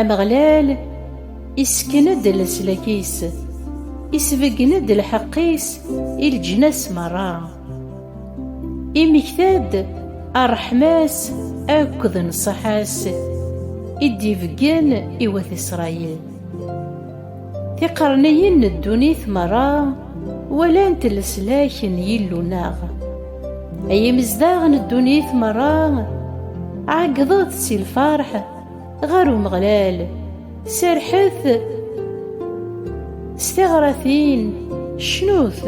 Ameɣlal isken-d leslak-is, isbeggen-d lḥeqq-is i leǧnas merra. Imekta-d ṛṛeḥma-s akked nnṣaḥa-s i d-ibeggen i wat Isṛayil. Tiqerniyin n ddunit merra walant leslak n Yillu-nneɣ. Ay imezdaɣ n ddunit merra, ɛeggḍet si lferḥ ɣer Umeɣlal, serrḥet s tiɣratin, cnut!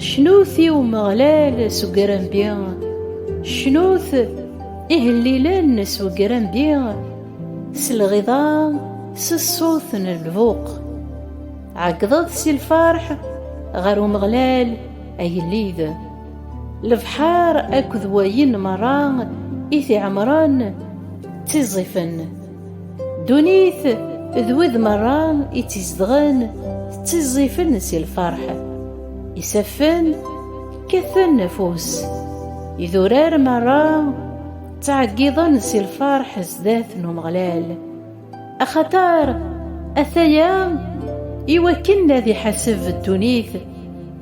Cnut i Umeɣlal s ugrambi, cnut ihellilen s ugrambi, s lɣiḍa s ṣṣut n lbuq ɛeggḍeḍ si lferḥ ɣer umeɣlal agellid lebḥar akked wayen merra i t-iɛemren ttiẓẓifen ddunit d wid merra i tt-izedɣen ttiẓẓifen si lferḥ isaffen kkaten afus idurar merra ttɛeggiḍen si lfarḥ zdat n Umeɣlal, axaṭer ataya i wakken ad iḥaseb ddunit,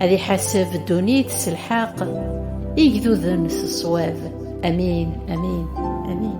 ad iḥaseb ddunit s lḥeqq, igduden s ṣṣwab. Amin, amin, amin.